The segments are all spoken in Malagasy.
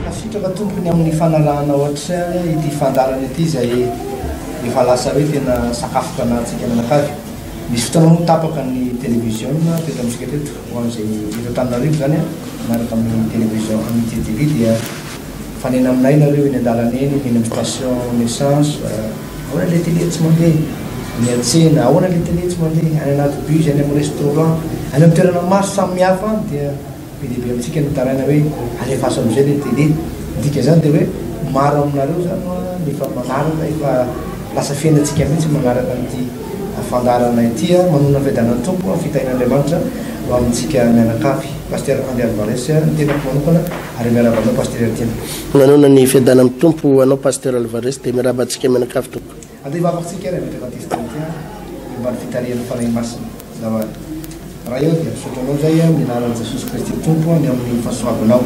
Tafitaka tompony amin'ny fanarahana ohatry ity fandaharana ity izay efa lasa hoe tena sakafom-panahintsika mianakavy. Misy fotoana moa tapaka ny televiziona teto amintsika teto. Ho an'izay eto Antananarivo izany an, miaraka amin'ny télévision Amitié TV dia mifanena aminay nareo eny an-dalana eny, eny amin'ny station essence, ahoana ilay télé tsy mandeha? miantsena, ahoana ilay télé tsy mandeha? any anaty bus, any amin'ny restaurant, any amin'ny toerana maro samihafa any dia be dia be amintsika ny mitaraina hoe alefaso amin'izay ilay télé, ny dikan'izany dia hoe maro aminareo izany no efa manaraka, efa lasa fiainantsika mihintsy ny manaraka an'ity. fandaharanay ity ary manonona fiadanan'ny Tompo ary fitahian'Andriamanitra ho amintsika mianakavy. Pasitera Andy Alvarez ny tenako manokana ary miarahaba anao Pasitera Heritiana. Manona ny fiadanan'ny Tompo ho anao Pasitera Alvarez dia miarahaba antsika mianakavy tompoko. Andeha hivavaka isika ry Andry Batista Heritiana eo ambany fitarihan'ny Fanahy Masina zandary. Ray ô dia misaotra anao izay amin'ny anaran'i Jesosy Kristy Tompo ny amin'ny fahasoavanao.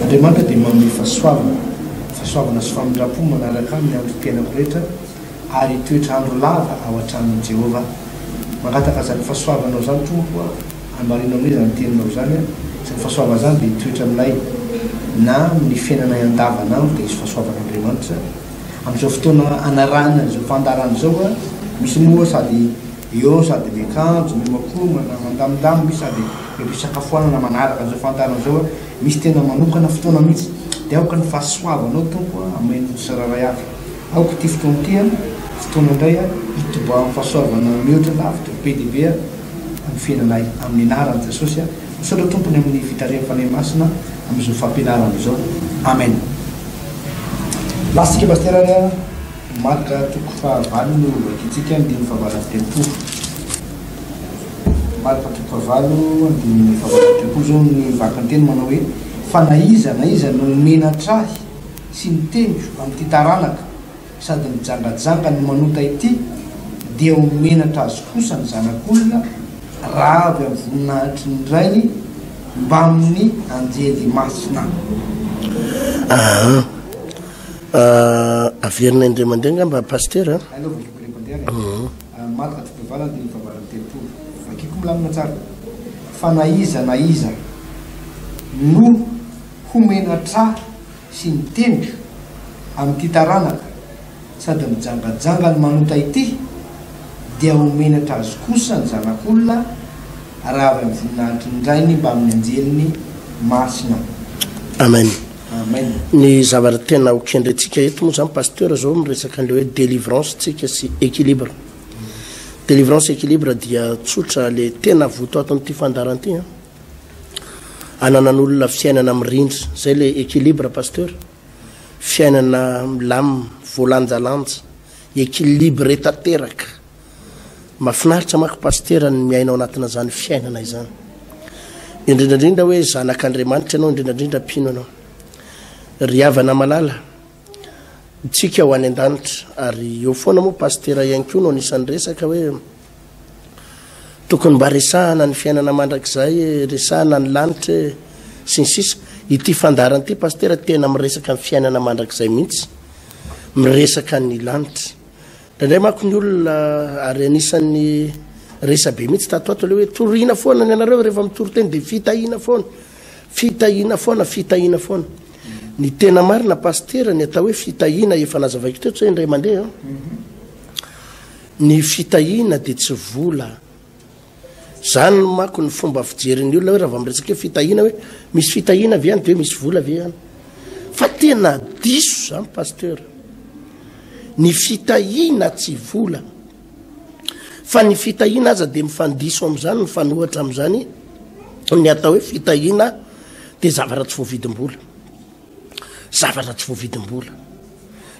Andriamanitra dia manome fahasoavana, fahasoavana sy famindram-po manaraka ahy ny andro fiainako rehetra. ary hitoetra andro lava ao an-tranon'i Jehovah. Mangataka izany fahasoavanao izany, Tompo ô, hambarino aminay izany teninao izany aho. Izany fahasoavana izany dia hitoetra aminay, na amin'ny fiainanay andavanandro dia hisy fahasoavan'Andriamanitra. Amin'izao fotoana anarahina an'izao fandaharana izao, misy moa sady eo no sady miakanjo, miomankomana, mandamindamy, misy sady eo am-pisakafoanana manaraka an'izao fandaharana izao, misy tena manokana fotoana mihitsy. Dia aoka ny fahasoavanao, Tompo, hameno ny tsirairay avy. Aoka ity fotoana ity an, fotoana indray an, hitobahan'ny fahasoavana mihoatra lavitra be dia be an, amin'ny fiainanay amin'ny anaran'i Jesosy an. Misaotra Tompony amin'ny fitarihan'ny Fanahy Masina amin'izao fampianarana izao. Amen. Lasitsika Pasteur ary an, Marc toko faha valo no vakintsika andininy faha valo amby telopolo. Marc toko faha valo andininy faha valo amby telopolo izao ny vakinteny manao hoe, fa na iza na iza no omena tra-hy, sy ny teniko amin'ity taranaka sady mijangajanga no manota ity dia ho menatra azy kosa ny zanak'olona raha avy amin'ny voninahitry ny Rainy mbamin'ny anjely masina. Aa ah averina indray mandeha angamba Pasitera a. Aleo vakiko indray mandeha ary a. Aa Mat atrik'ireo valo andininy fahavalo amby telopolo. Vakiko milamina tsara. Fa na iza na iza no ho menatra. sy ny tendro amin'ity taranaka sady mijangajanga ny manota ity dia ho menatra azy kosa ny zanak'olona raha avy amin'ny voninahitry ny Rainy mbamin'ny anjeliny masina. Amen. Amen. Ny zavatra tena ho kendrentsika eto moa zany Pasteur zao miresaka an'ilay hoe délivrance tsika sy équilibre. Délivrance équilibre dia tsotra le tena votoaton'ity fandaharana ity an. ananan'olona fiainana mirindra zay le équilibre pasteur fiainana milamina voalanjalanja équilibré tanteraka mafinaritra mako pasteur ny miainao anatina zany fiainana izany indrindrandrindra hoe zanak'Andriamanitra ianao indrindrandrindra mpino ianao ry havana malala Ntsika ho any an-danitra ary eo foana moa Pasitera ihany koa no anisan'ny resaka hoe tokony mba resahana ny fiainana mandrakizay e, resahana ny lanitra e sy ny sisa. Ity fandaharana ity Pasitera tena miresaka ny fiainana mandrakizay mihitsy, miresaka ny lanitra. Indraindray manko ny olona ary anisan'ny resabe mihitsy tato ho ato ilay hoe torina foana ny anareo rehefa mitory teny dia fitahiana foana. Fitahiana foana, fitahiana foana. Ny tena marina Pasitera, ny atao hoe fitahiana, efa nazavaiko teto zay indray mandeha an. Ny fitahiana dia tsy vola. Zany no mako ny fomba fijerin'ny olona hoe raha vao miresaka hoe fitahiana hoe misy fitahiana ve any dia misy vola ve any. Fa tena diso zany Pasitera. Ny fitahiana tsy vola. Fa ny fitahiana aza dia mifandiso amin'izany, mifanohitra amin'izany ny atao hoe fitahiana dia zavatra tsy voavidim-bola. Zavatra tsy voavidim-bola.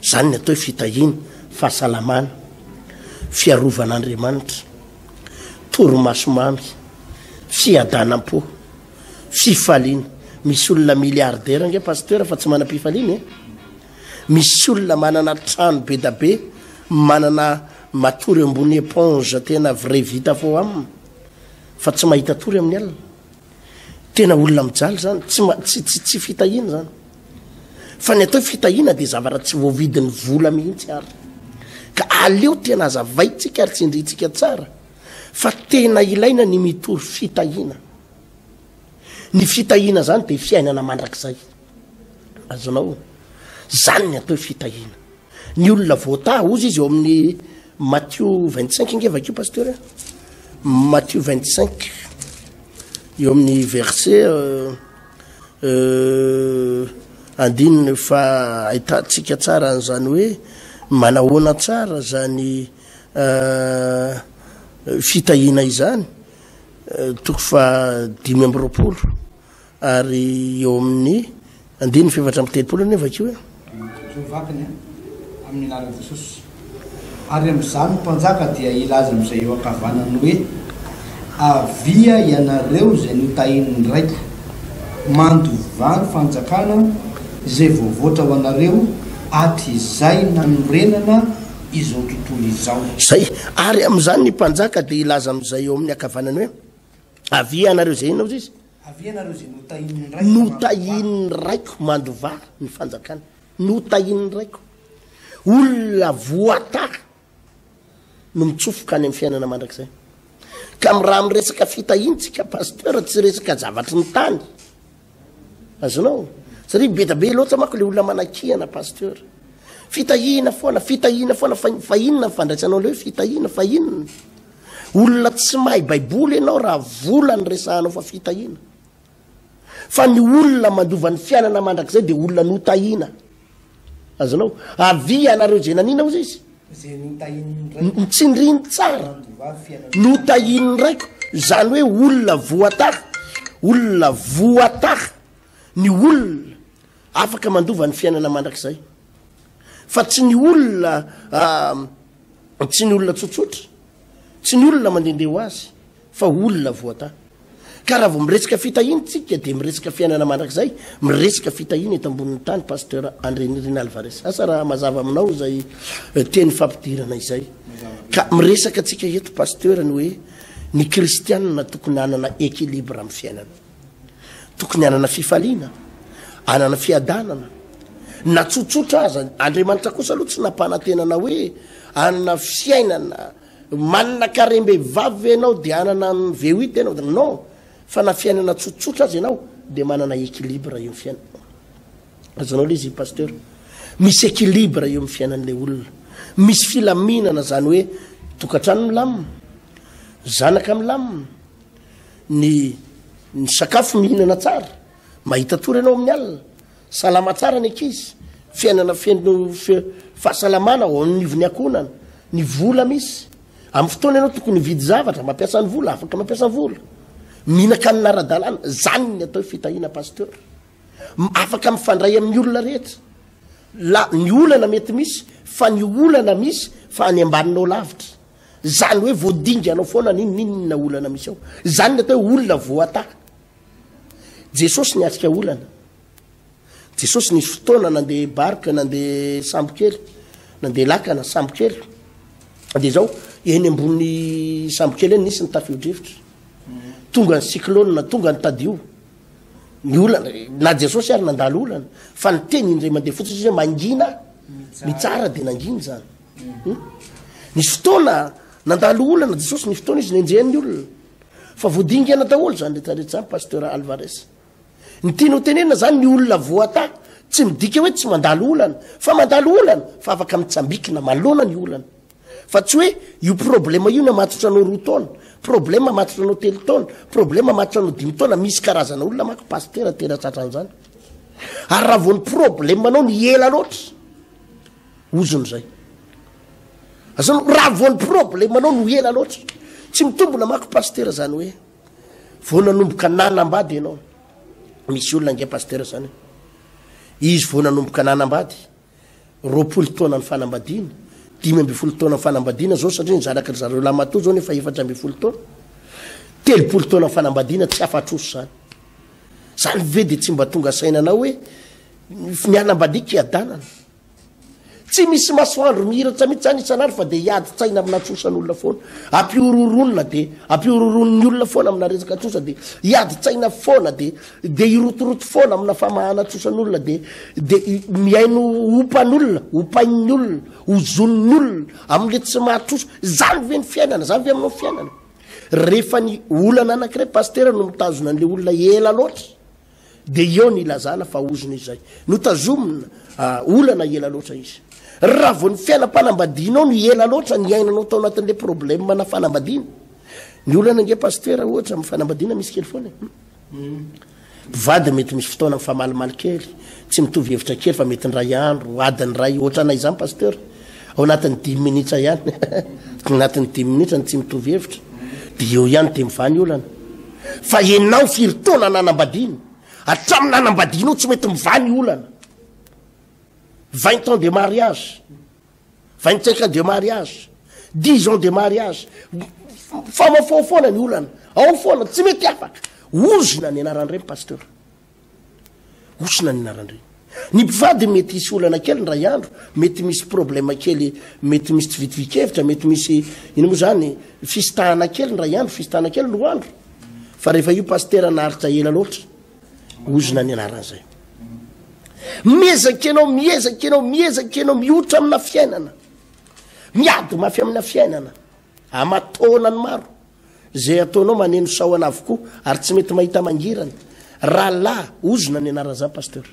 Izany ny atao hoe fitahiana, fahasalamana, fiarovan'Andriamanitra, torimaso mamy, fiadanam-po, fifaliana. Misy olona milliardaire ange pasteur fa tsy manam-pifaliana e. Misy olona manana trano bedabe manana matory ambony eponge tena vrai vita fo am fa tsy mahita tory amin'ny alina. Tena olona mijaly zany tsy tsy tsy tsy fitahiana zany. Fa ny atao fitahiana dia zavatra tsy voavidin'ny vola mihitsy ary. Ka aleo tena azavaintsika ary tsindrintsika tsara fa tena ilaina ny mitory fitahiana. Ny fitahiana izany dia fiainana mandrakizay. Azonao? Izany ny atao hoe fitahiana. Ny olona voataha, ozy izy eo amin'ny Matio 25 inge vakio pasteur. Matio 25 eo amin'ny verset euh, euh, andininy fa ahitantsika tsara an'izany hoe manahoana tsara zany euh, fitahiana izany toko fahadimy amby roapolo ary eo amin'ny andininy fefatra amby telopolo anie vakio e. Ireo vatany amin'ny anaran'i Jesosy. Ary amin'izany ny mpanjaka dia hilaza amin'izay eo ankavanany hoe, Avia ianareo izay notahin'ny Raiko, mandovà ny fanjakana izay voavoatra ho anareo hatrizay nanorenana izao tontolo izao. Izay. Ary amin'izany ny mpanjaka dia hilaza amin'izay eo amin'ny ankavanany hoe, Avia ianareo izay inona hozy izy? Avia ianareo izay notahian'ny Raiko mandovà. Notahian'ny Raiko mandovà ny fanjakany. Notahian'ny Raiko. Olona voatahy no mitsofoka any amin'ny fiainana mandrakizay. Ka raha miresaka fitahiantsika, Pasteur, tsy resaka zavatry ny tany. Azonao? Satria beda be loatra manko le olona manakihana pasteur. Fitahihina foana, fitahihina foana fa, fa inona ny fandraisanao leo fitahihina fa inona? Olona tsy mahay baiboly ianao raha vola ny resahanao fa fitahihina. Fa ny olona mandova ny fiainana mandrakizay dia olona notahina. Azonao? Avia ianareo izay nanina, hoy izy. Ntsindriny tsara. Notahian'ny raiko. Izany hoe olona voataha. Olona voataha. Ny olona afaka mandova ny fiainana mandrakizay. Fa tsy ny olona ah, tsy ny olona tsotsotra. Tsy ny olona mandehandeha ho azy. Fa olona voata. Ka raha vao miresaka fitahiana tsika dia miresaka fiainana mandrakizay, miresaka fitahiana eto ambonin'ny tany Pasteur Andrianirina Alvarez. Asa raha mazava aminao izay teny fampidirana izay. Ka miresaka tsika eto Pasteur ny hoe ny kristianina tokony hanana equilibre amin'ny fiainana. Tokony hanana fifaliana, hanana fiadanana, na tsotsotra aza. Andriamanitra kosa aloha tsy nampanantenana hoe hanana fiainana. Manana karem-behivavy ve ianao dia hanana an'i VUT ianao dia non, fa na fiainana tsotsotra aza ianao dia manana équilibre eo amin'ny fiainana. Azonao ilay izy io Pasteur. Misy équilibre eo amin'ny fiainan'ilay olona. Misy filaminana izany hoe tokantrano milamina, zanaka milamina, ny ny sakafo mihinana tsara, mahita tory ianao amin'ny alina. Salama tsara ny ankizy, fiainana feno fahasalamana ao anivon'ny ankohonana, ny vola misy. Amin'ny fotoana ianao tokony hividy zavatra, mampiasa ny vola, afaka mampiasa ny vola. Mihinan-kanina ara-dalàna, izany ny atao fitahiana pasteur. Afaka mifandray amin'ny olona rehetra. La, ny olana mety misy, fa ny olana misy fa any ambaninao lavitra. Izany hoe voadinganao foana n'inon'inona olana misy ao. Izany ny atao hoe olona voataha. Jesosy niatrika olana. Jesosy nisy fotoana nandeha barika, nandeha sambokely, nandeha lakana, sambokely. Dia izao, eny ambony sambokely eny nisy ny tafio-drivotra. Tonga ny cyclone, tonga ny tadio. Ny olana, na Jesosy ary nandalo olana. Fa ny teny indray mandeha fotsiny izy hoe mangina, mitsara dia nangina izany. Hmm? Nisy fotoana nandalo olana Jesosy, nisy fotoana izy nenjehan'ny olona. Fa voadingana daholo zany rehetra rehetra zany Pasteur Alvarez. Ny tiany ho tenenina zany ny olona voata tsy midika hoe tsy mandalo olana fa mandalo olana fa afaka mitsambikina malona ny olana. Fa tsy hoe io problema io namatotra anao roa taona, problema mamatotra anao telo taona, problema mamatotra anao dimy taona, misy karazana olona mako Pasteur tena tratran'zany. Ary raha vao ny problema anao ny ela loatra. Ozona izay. Azony raha vao ny problemanao no ela loatra, tsy mitombona mako pasitera zany hoe vao nanomboka nanambady ianao. Misy olona ange pasitera zany. Izy vao nanomboka nanambady, roapolo taona ny fanambadiana, dimy ambin'ny folo taona ny fanambadiana zao satria nizaraka ry zareo lamatoa zao nefa efatra ambin'ny folo taona. Telopolo taona ny fanambadiana tsy afatroso zany. Zany ve dia tsy mba tonga saina anao hoe ny hanambadiako hiadanana. Tsy misy masoandro mihiratra mihitsy zany isan'andro fa dia hiady tsaina amina trosan'olona foana. Ampihorohoronina dia ampihorohoronin'ny olona foana amina resaka trosa dia hiady tsaina foana dia dia hirotoroto foana amina famahana trosan'olona dia dia mihaino ompan'olona, ompain'ny olona, ozonin'ny olona amin'ilay tsy mahatrosa. Zany ve ny fiainana? Zany ve aminao ny fiainana? Rehefa ny olana anankiray Pasitera no mitazona an'ilay olona ela loatra. Dia eo ny ilazana fa ozona izay no tazomina olana ela loatra izy. Raha vao ny fiainam-panambadianao no ela loatra ny iainanao tao anatin'ilay problème na fanambadiana. Ny olana ange pasitera ohatra amin'ny fanambadiana misy kely foana. E. Hmm. Vady mety misy fotoana mifamalimaly kely, tsy mitovy hevitra kely fa mety indray andro, adiny iray, ohatranay izany pasteur. Ao anatin'ny dimy minitra ihany, ao anatin'ny dimy minitra ny tsy mitovy hevitra, dia eo ihany dia mivaha ny olana. Fa ianao firy taona nanambadiana? Hatramin'ny nanambadianao tsy mety mivaha ny olana. Vingt ans de mariage, vingt cinq ans de mariage, dix ans de mariage, famafao foana ny olana, ao foana, tsy mety afaka. Ozona ny anaran'ireny pasteur. Osona ny narandri. Ny mpivady mety hisy olana kely ndray andro, mety misy problème kely, mety misy tsy vitovikevitra, mety misy ino moa zany, fisitahana kely ndray andro, fisitahana kely roa andro, fa rehefa io pasitera naharitra ela loatra, ozona ny anarany zay. Miezaka ianao, miezaka ianao, miezaka ianao, mihotra amina fiainana, miady mafy amina fiainana. Aman-taonany maro. Izay ataonao maneno sahona avokoa ary tsy mety mahita mangirana. Rahalahy, ozona ny anaran'izany Pasteur.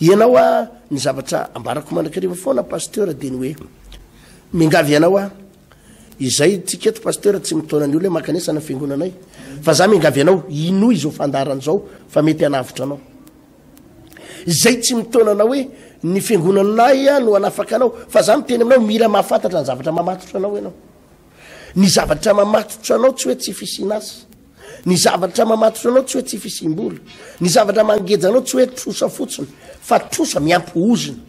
Ianao a, ny zavatra ambarako mandrakariva foana Pasteur dia ny hoe, miangavy ianao a, izay tsika eto Pasteur tsy mitaona ny olona hoe mankanesa any amin'ny fiangonanay, fa za miangavy anao hinoa izao fandaharana izao fa mety hanavotra anao. Izay tsy mitaona anao hoe ny fiangonanay no hanafaka anao, fa za miteny aminao mila mahafantatra ny zavatra mamatotra anao ianao. Ny zavatra mamatotra anao tsy hoe tsy fisian'asa. Ny zavatra mamatotra anao tsy hoe tsy fisiam-bola. Ny zavatra mangeja anao tsy hoe trosa fotsiny, fa trosa miampy ozona.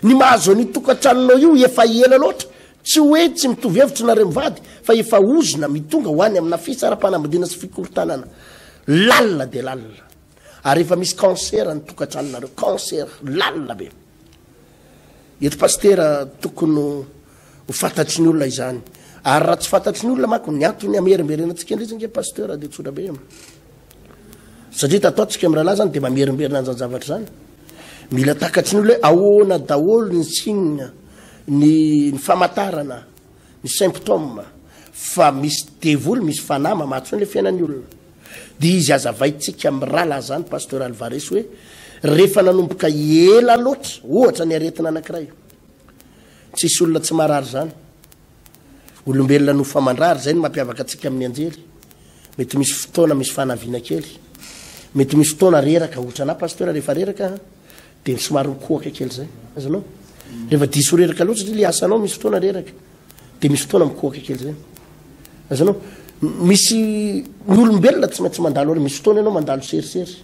Ny mahazo an'io tokantranonao io efa ela loatra, tsy hoe tsy mitovy hevitra nareo mivady, fa efa ozona mitonga ho any amina fisaraham-panambadiana sy fikorontanana lalina dia lalina. Ary efa misy cancer ny tokatranonareo, cancer lalina be. Eto Pasitera tokony ho fantatry ny olona izany. Ary raha tsy fantatry ny olona manko ny antony hamerimberenantsika indray zany nge Pasteur dia tsotra be. Satria tato ato tsika mirahalahy zany dia mamerimberina an'izany zavatra izany. Mila takatry ny olona hoe ahoana daholo ny signe, ny ny famantarana, ny symptômes fa misy devoly, misy fanahy mamatsy foana ilay fiainan'ny olona. Dia izy azavaintsika amin'ny rahalahy izany Pasteur Alvarez hoe rehefa nanomboka ela loatra ohatra ny aretina anankiray. Tsisy olona tsy marary izany. Olombelona no fa mandrary, izay no mampiavaka antsika amin'ny anjely. Mety misy fotoana misy fanaviana kely. Mety misy fotoana reraka, ohatra anah Pasteur rehefa reraka dia somary mikohaka kely izay. Azonao? Rehefa diso reraka loatra satria ilay asanao misy fotoana reraka. Dia misy fotoana mikohaka kely zay. Azonao? Misy ny olombelona tsy maintsy mandalo ary misy fotoana ianao mandalo serisery.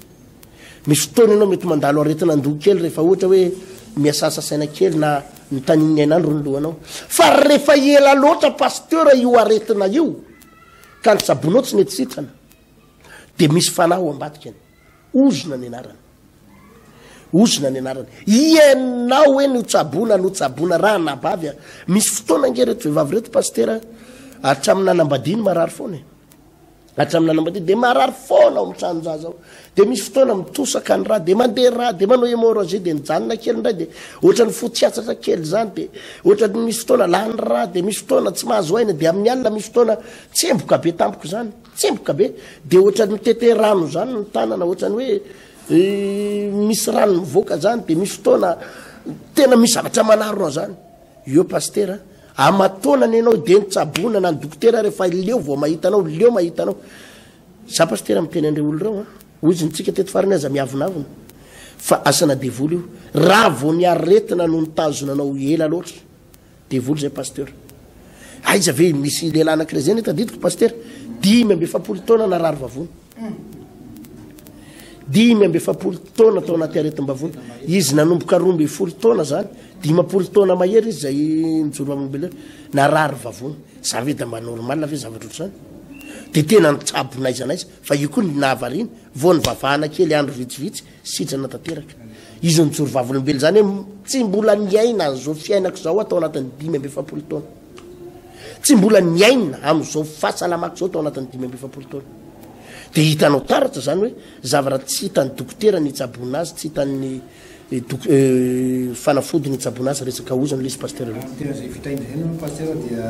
Misy fotoana ianao mety mandalo aretina an-doha kely rehefa ohatra hoe miasasa saina kely na ny tanin'ny ainandro ny lohanao. Fa rehefa ela loatra pasteur io aretina io ka ny sabonao tsy mety sitrana dia misy fanahy ao ambadikany. Ozona ny anarany. Ozona ny anarany. Ianao hoe no tsaboana, no tsaboana raha anabavy a. Misy fotoana ange reto vehivavy reto pasitera hatramin'ny nanambadiany marary foana e. Hatramin'ny nanambadiany dia marary foana ao amin'ny tranon-jaza ao. Dia misy fotoana mitosaka ny rà, dia mandeha rà, dia manao hémorragie, dia mijanona kely indray, dia ohatran'ny fo tsy atsatra kely izany, dia ohatran'ny misy fotoana lany rà, dia misy fotoana tsy mahazo aina, dia amin'ny alina misy fotoana tsemboka be tampoka izany. Tsemboka be, dia ohatran'ny mitete rano izany ny tanana, ohatran'ny hoe misy rano mivoaka izany, dia misy fotoana tena misy zavatra manarona izany. Eo pasitera, amataonana ianao dia nitsaboana na ny dokotera rehefa leo vao mahita anao, leo mahita anao. Za pasitera miteny an'ireo olona ireo, hoy izy nitsika teto farany aza miavonavona fa asana devoly io, raha vao ny aretina no nitazona anao ela loatra. Devoly zay pasteur. Aiza ve misy lehilahy anankiray zay ny tadidiko pasteur? Dimy amby efapolo taona narary vavony. Dimy amby efapolo taona tao anaty aretim-bavony. Izy nanomboka roa amby folo taona zany, dimampolo taona mahery izy zay nijoro amin'ny beleo. Narary vavony. Za ve da mba normal ve zavatra ohatr'izany? Dia tena nitsabo n'aiza n'aiza fa io koa ny nahavariana. Vao nivavahana kely andro vitsivitsy Sitrana tanteraka. Izy nijoro vavolombelona, izany hoe tsy mbola niaina an'izao fiainako izao aho tao anatin'ny dimy amby efapolo taona. Tsy mbola niaina amin'izao fahasalamako izao tao anatin'ny dimy amby efapolo taona. Dia hitanao taratra izany hoe zavatra tsy hitan'ny dokotera ny hitsaboana azy, tsy hitan'ny eh, dok- eh, fanafody ny hitsaboana azy, resaka ozona ilay izy Pasteur. Tena izay vita indray no Pasteur dia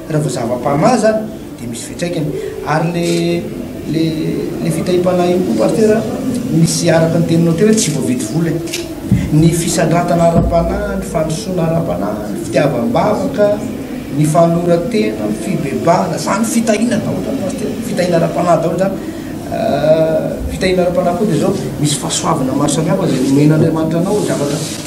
Raha vao zava-panahy izany dia misy fiantraikany. Ary le le le fitahiam-panahy io koa Pasteur a, misy araka ny teninao teo hoe tsy voavidy vola e. Ny fisandratana ara-panahy, ny fandrosoana ara-panahy, ny fitiavam-bavaka, ny fanoloran-tena, ny fibebahana, izany fitahiana daholo izany Pasteur, fitahiana ara-panahy daholo izany. Fitahiana ara-panahy koa dia izao, misy fahasoavana maro samihafa izay nomen'Andriamanitra anao zavatra.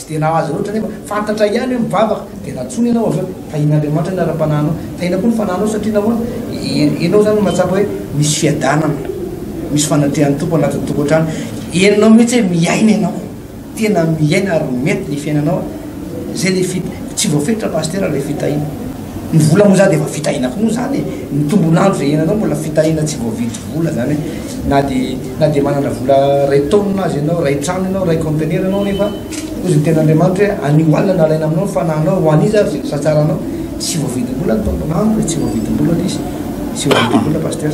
Tsy dia nahazo azy loatra anefa. Fantatra ihany hoe mivavaka, dia natsoiny ianao avy eo. Tahin'Andriamanitra ny ara-panahinao. Tahina koa ny fanahinao, satria nahoana? Ianao izany no mahatsapa hoe misy fiadanana, misy fanatrehan'ny Tompo anatin'ny tokantrano. Henonao mihitsy hoe miaina ianao, tena miaina ary mety ny fiainanao. Izay ilay, tsy voafetra Pasitera ilay fitahiana. Ny vola moa zany dia efa fitahiana koa moa zany e, ny tombon'andro izay hiainanao mbola fitahiana tsy voavidy vola zany hoe na dia na dia manana vola ray taonina aza ianao, ray trano ianao, ray conteneur ianao nefa hoy ny tenin'Andriamanitra hoe anio alina no alaina aminao ny fanahinao ho an'iza ary izay misatsara anao, tsy voavidim-bola ny tombon'andro e, tsy voavidim-bola le izy, tsy voavidim-bola Pasteur.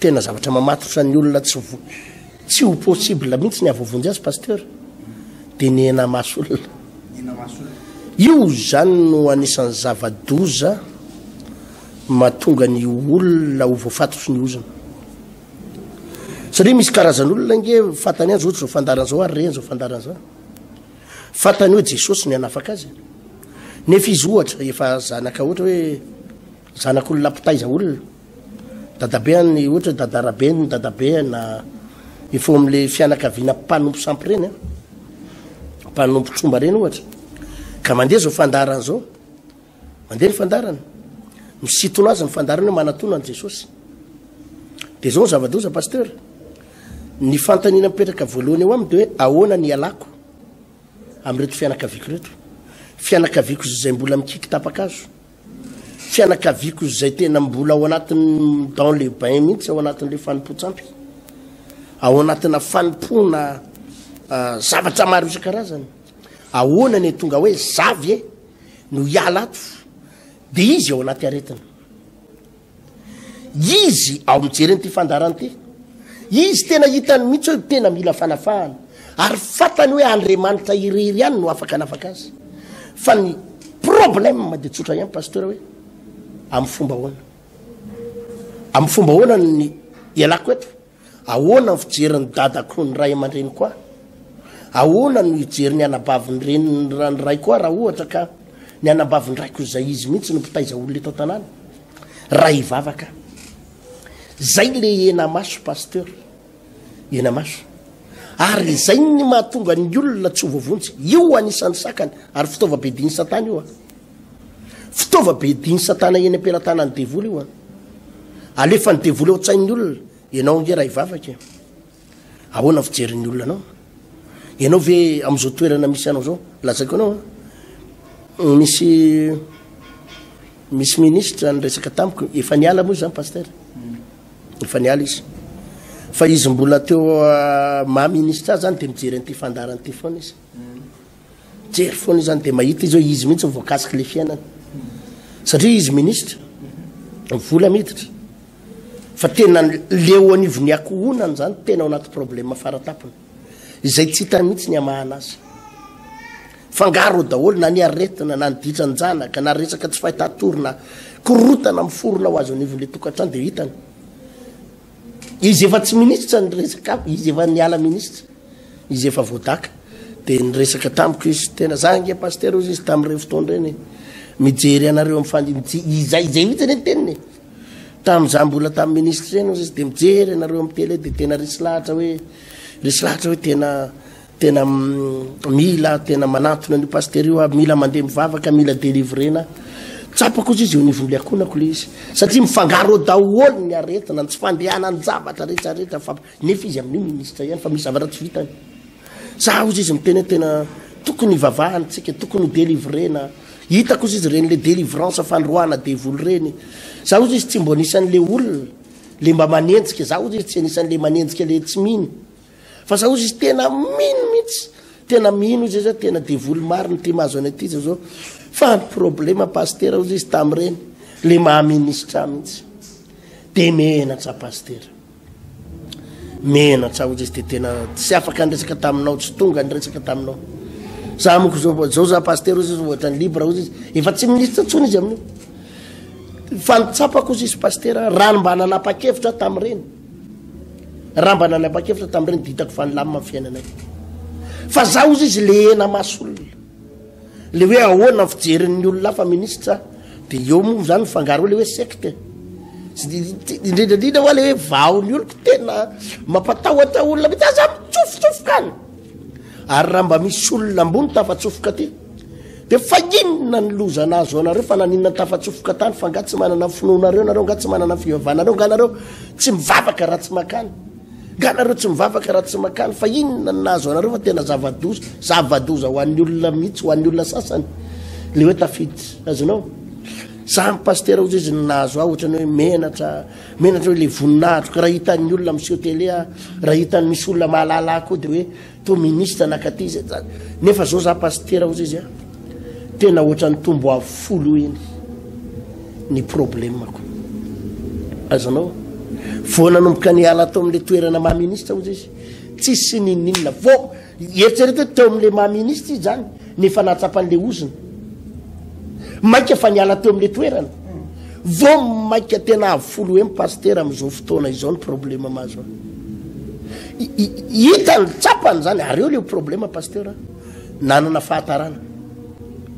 Tena zavatra mamatotra ny olona tsy tsy ho possible mihitsy ny avovonjy azy pasteur dia ny hena maso olona io zany no anisan'ny zava-doza matonga ny olona ho voafatotry ny ozona satria misy karazan'olona nge fatany azy ohatry zao fandarana zao ary reny zao fandarana zao fatany hoe jesosy ny hanafaka azy nefa izy ohatra efa zanaka ohatra hoe Zanak'olona mpitaiza olona. Dadabe an ny ohatra hoe dada rabe ny dadabe an na mifoha amin'ilay fianakaviana mpanompo sampy ireny an. Mpanompo tromba ireny ohatra. Ka mandeha izao fandaharana izao. Mandeha ny fandaharana. Misitona azy ny fandaharana hoe manatona an'i Jesosy. Dia izao ny zava-doza Pasteur. Ny fanontaniana mipetraka voalohany eo aminy dia hoe ahoana ny hialako amin'ireto fianakaviako ireto. Fianakaviako izay mbola mikiky tapa-kazo. fianakaviako izay tena mbola ao anatin'ny dans le bain mihitsy ao anatin'ilay fanompoan-tsampy ao anatina fanompoana ah, zavatra maro isan-karazany ahoana ny tonga hoe zavy e no hiala ato dia izy ao anaty aretina Izy ao mijery an'ity fandaharana ity. Izy tena hitany mihitsy hoe tena mila fanafahana. Ary fantany hoe Andriamanitra irery ihany no afaka hanafaka azy. Fa ny problème dia tsotra ihany pasteur hoe amin'ny fomba ahoana? Amin'ny fomba ahoana ny ialako eto? Ahoana ny fijerin'ny dadako sy ny ray aman-dreniko ahy? Ahoana no hijery ny anabavin'ny reniny ny raiko ahy raha ohatra ka ny anabavin-draiko izay izy mihitsy no mpitaiza olona eto an-tanàna? Raha hivavaka aho. Izay ilay henamaso Pasteur. Henamaso. Ary izay ny mahatonga ny olona tsy ho voavonjy. Io anisan'ny sakany ary fitaovam-piadian'i Satana io. Fitaova bedin'i satana eny am-pelatanan'ny devoly io an. Alefan'ny devoly ao an-tsain'ny olona, ianao ange raha hivavaka e. Ahoana ny fijerin'ny olona anao? Ianao ve amin'izao toerana misy anao izao? Lazaiko anao an. Mm, misy misy ministra niresaka tamiko, efa niala moa izany pasteur. Efa niala izy. Fa izy mbola teo ah, maha ministra azy zany dia mijery an'ity fandaharana ity foana izy. Mijery foana izy zany dia mahita izy hoe izy mihitsy ny voakasiky ilay fiainana. Satria izy minisitra, ny vola miditra. Fa tena le eo anivon'ny akohonany zany tena ao anaty problema faratampony. Izay tsy hitany mihitsy ny hamahana azy. Fangaro daholo na ny aretina na ny ditran-janaka na resaka tsy fahitatorina korotana miforona ho azy anivon'ilay tokantrano dia hitany. Izy efa tsy ministra niresaka amiko, izy efa niala ministra, izy efa voadaka, dia niresaka tamiko izy, tena za ange pasitera hozy izy tamin'ireny fotoana ireny e, mijery anareo amin'ny fandinijia, izay izay mihitsy anie ny teniny e, tamin'izaho mbola tamin'ny ministra eny hozy izy, dia mijery anareo amin'ny tele, dia tena resy lahatra hoe, resy lahatra hoe tena, Tena mila tena manatona an'io pasitera io aho, mila mandeha mivavaka, mila delivrena. Tsapa kosa izy eo niveau liakonako le izy. Satria mifangaro eo daholo ny aretina, ny tsy fandehanan-javatra rehetra rehetra fa nefa izy amin'io ministre ihany fa misy zavatra tsy vitany. Za ozy izy miteny hoe tena tokony hivavahana tsika, tokony ho delivrena. Hita kosa izy ireny le delivrance fandroahana devoly ireny. Za ozy izy tsy mbo anisan'le olona le mba manenjika, za ozy izy tsy anisan'le manenjika le tsy mino. Fa za ozy izy tena mino mihitsy tena mino izy za tena devoly marina ty mahazo any aty za zao fa ny problema pastera ozy izy tamin'ireny le maha ministra mihitsy de menatra pastera menatra ozy izy de tena tsy afaka ny resaka taminao tsy tonga ny resaka taminao za moko zao zao za pastera ozy izy ohatra ny libre ozy izy efa tsy ministra tsony izy amin'io fa nitsapako ozy izy pastera raha ny mba nanapa-kevitra tamin'ireny Raha mba nanapa-kevitra tamin'ireny dia hitako fa nilamina ny fiainanay. Fa za ozy izy lehena maso olona. Le hoe ahoana ny fijerin'ny olona hafa minisitra dia eo moa izany fangaro le hoe secte. Indrindra indrindra hoa le hoe vahon'ny oloko tena mampatahotra olona mety aza mitsofotsofokana. Ary raha mba misy olona ambony tafatsofoka aty dia faninona ny loza nahazo anareo fa naninona ny tafatsofoka tany fa nga tsy manana ny finoanareo nareo nga tsy manana ny fivavanareo nga nareo tsy mivavaka raha tsy makany nga nareo tsy mivavaka raha tsy makany fa inona ny nahazo anareo fa tena zavadoza zavadoza ho an'ny olona mihitsy ho an'ny olona sasany le hoe tafiditra azonao samy pastera ozy izy ny nahazo aho ohatrany hoe menatra Menatra hoe le voninahitro ka raha hitan'ny olona miseho télé aho, raha hitan'ny misy olona mahalala ahy koa dia hoe toa ministre na katy izay zany. Nefa zao za pasitera ozy izy a, tena ohatran'ny tombo avo folo eo eny ny problemako. Azanao? Vao nanomboka niala tao amin'le toerana maha ministre ozy izy, tsisy ninoninona vao Eritrereto hoe teo amin'ilay maha minisitra izy izany no efa nahatsapa an'ilay ozona. Mainka fa niala teo amin'ilay toerana. Vao mainka tena avo folo hem pasitera amin'izao fotoana izao ny problema mahazo ahy. Hitany, tsapany izany ary eo ilay problema pasitera nanana fahatarana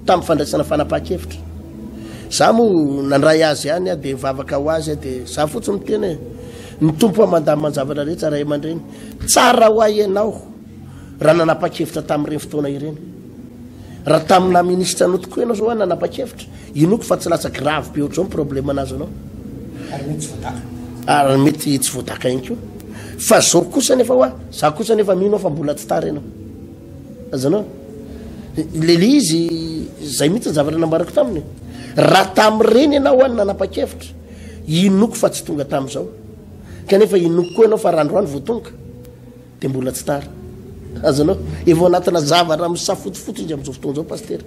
tamin'ny fandraisana fanapahan-kevitra. Za moa nandray azy ihany aho dia nivavaka ho azy aho dia za fotsiny miteny hoe ny Tompo aho mandamina ny zavatra rehetra ray aman-dreny. Tsara ho ahy ianao raha nanapa-kevitra tamin'ireny fotoana ireny. Raha tamin'ny naha ministra anao tokoa ianao izao ary nanapa-kevitra, inoako fa tsy lasa grave be ohatr'izao ny problème nahazo anao. Ary mety tsy voataka. Ary mety tsy voataka ihany koa. Fa izao kosa nefa hoa, za kosa nefa mino aho fa mbola tsy tara ianao. Azonao? Le le izy, izay mihitsy ny zavatra nambarako taminy. Raha tamin'ireny ianao hoa no nanapa-kevitra, inoako fa tsy tonga tamin'izao. kanefa inoako koa ianao fa raha androany vao tonga dia mbola tsy tara azonao efa ao anatina zavatra misafotofoto indry amin'izao fotoana izao pastera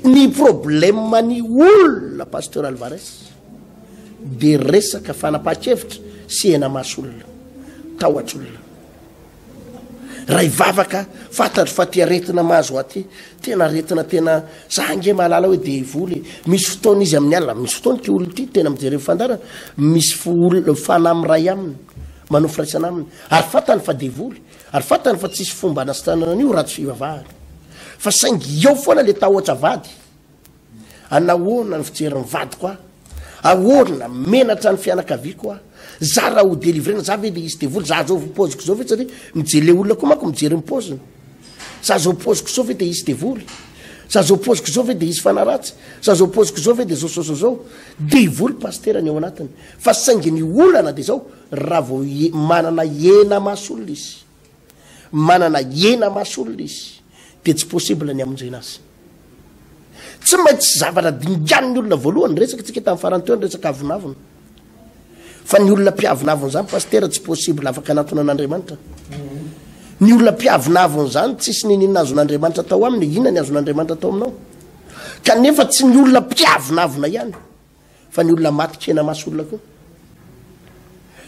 ny problema ny olona pasteur alvarez dia resaka fanapaha-kevitra sy hena maso olona tahotr'olona Ray vavaka fantatro fa ty aretina mahazo aty tena aretina tena za ange mahalala hoe devoly e. Misy fotoana izy amin'ny alina, misy fotoana ty olona ty tena mijery fandarana, misy olona fanahy miray aminy, manao firaisana aminy ary fantany fa devoly ary fantany fa tsisy fomba anasitranana an'io raha tsy fivavahana. Fa saingy eo foana le tahotra vady. An ahoana ny fijery ny vadiko a? Ahoana? Menatra ny fianakaviako a? Za raha ho delivrena za ve dia hisy devoly? Za zao poziko zao ve tsy mijery le olona koa manko mijery ny poziny. Za zao poziko zao ve dia hisy devoly? Za zao poziko zao ve dia hisy fanahy ratsy? Za zao poziko zao ve dia zao zao zao zao? Devoly pasitera ny ao anatiny. Fa saingy ny olana dia zao raha vao manana hena maso olona izy. manana hena maso olona izy dia tsy possible ny hamonjena azy. Tsy maintsy zavatra dinganin'ny olona voalohany, niresakatsika tamin'ny farany teo ny resaka avonavona. Fa ny olona mpiavonavona izany pasitera tsy possible afaka anatona an'Andriamanitra. Ny olona mpiavonavona izany tsisy nininona azon'Andriamanitra tao aminy, inona ny azon'Andriamanitra tao aminao? Kanefa tsy ny olona mpiavonavona ihany. fa ny olona maty kena maso olona koa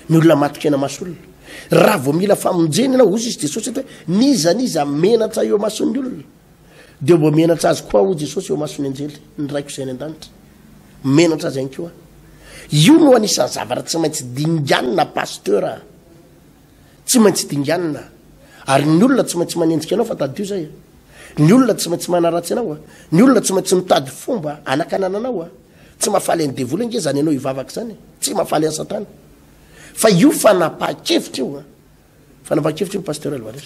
ny olona maty kena maso olona raha vao mila famonjeny ianao ozy izy jesosy eto hoe niza niza menatra eo mason'ny olona dia mba menatra azy koa ho jesosy eo mason'ny anjely ny raiko izay any an-danitra menatra azy ihany koa io no anisan'ny zavatra tsy maintsy dinganina pasteur Tsy maintsy dinganina Ary ny olona tsy maintsy manenjika anao fa tadidio zay a. Ny olona tsy maintsy manaratsy anao a. Ny olona tsy maintsy mitady fomba hanakanana anao a. Tsy mahafaly an'i devoly ange zany ianao hivavaka izany e. Tsy mahafaly an'i satana. Fa io fanapahan-kevitra io a. Fanapahan-kevitra io Pasteur Alvarez.